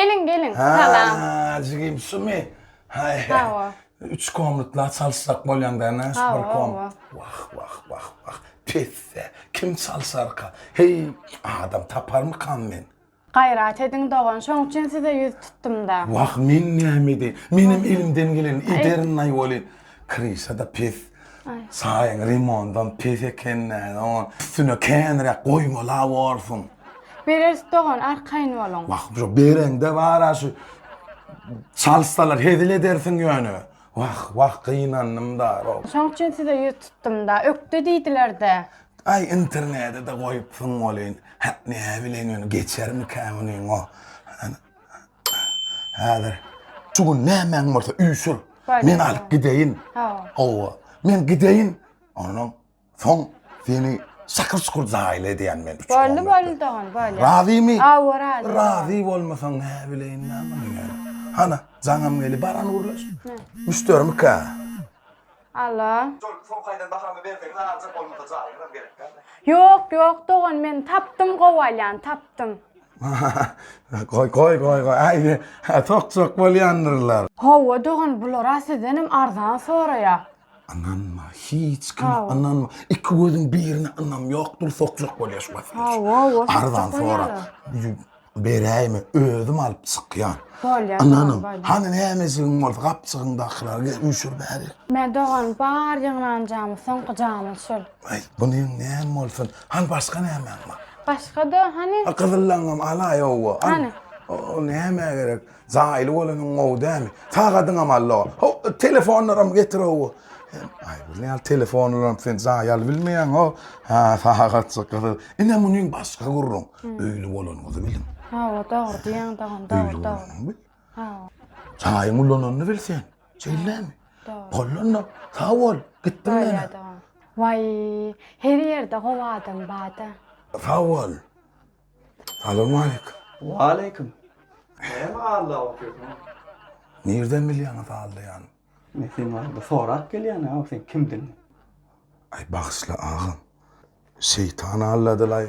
Geliň, geliň. Salam. Haa, jigim şumy? Haý. Hawa. Üç komnatla çalyşjak bolýaňda näş bir Hawa, kom. hawa. Wah, wah, wah, wah. Pisse, kim çalyşarka? Heý, adam taparmykam men? Gaýrat ediň, dogan, şoň üçin size ýüz tutdum-da. Wah, men näme edeýin? Menem elimden geleni ederin-laý welin, kryşa-da pes. Çaýyň limondan pes ekendäni oň üstüne känräk goýmala borsuň. Bereris dogan arkaýyn boluň. Wah şu bereňde bara şu çalyşsalar hezil edersiň ýöne. Wah wah gynandym da rov. Şoň üçin size ýüz tutdum da ökde diýdilerde. Aý internede de goýupsyň welin hä näbileň ýöne geçermikä munyň o Häzir şu gün nämäň bolsa üýşür. Men alyp gideýin. Hawa. Men gideýin. Ondan soň seni şakyr şukur jaýyl edýän men. Boldy boldy dogan bolýar. Razymy? Hawa razy. Razy bolmasaň nä bileýin näme. Hana jaňam geli baran gurlaş. Müşderimi kä? Alla. Şol soň kaýdan bahamy berseňiz aljak bolmasa jaýyňyzam gerek däl dä. Ýok ýok dogan men tapdym gowalýan tapdym. Goý goý goý goý aýdy sok sok bolýandyrlar. Hawa dogan bulara sizdenem arzan soraýa. Ynanma hiç kime ynanma iki gözüň birine ynam ýokdur sok sok bolýa şu wagt. Hawa hawa sok sok bolýalar. Beräýme, özüm alyp çykýan. Bolýa, Ynanyň, bol, bol. hany nämejigiň bolsa gapjygyňdakylary gel üýşür bärik. Mä dogan, bar ýygnanjamyz, soňky jamyz şol. Aý, bu neň näm bolsun? Hany başga nämäň bar? Başga-da, hany. A gyzyllaňam alaý, owo, al. Hany. O, o nämä gerek? Jaýly bolanyň gowy dämi? Sagadyňam allo. Ho, telefonlaram getir ow. Aý, bu näl telefonlaram sen jaý al bilmeýäň o. Ha, sagat çykdy. Ine munyň başga gürrüň. Öýli bolanyňyzy biliň. Ha, o dogry diýýäň dagyn, dogry, dogry. Ha. Jaýyň ulananyny bil sen. Şeýlemi? Dogry. Bolanda, sag bol. Gitdim men. Bolýar dagyn. Waý, her ýerde gowy adam bar-da. Sag bol. Salowmaleýkim. Waleýkim. Näme alda oturýaň? Nirden bilýäňiz aldaýany? Men seni alda sorap gelýän, a sen kimdigiňi. Aý bagyşla agam. Şeýtan aldadylay.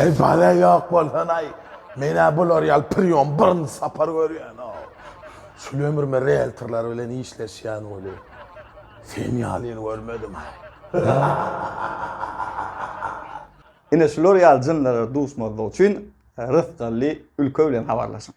Ey bala ýok bolsanaý. Men-ä bular ýaly priýom birinji sapar görýän-ow. Şul ömrüme rieltorlar bilen işleşýän bolýar. Sen ýalyny görmedim Ine şular ýaly jynlara duşmazlyk üçin Rysgally ülke bilen habarlaşyň.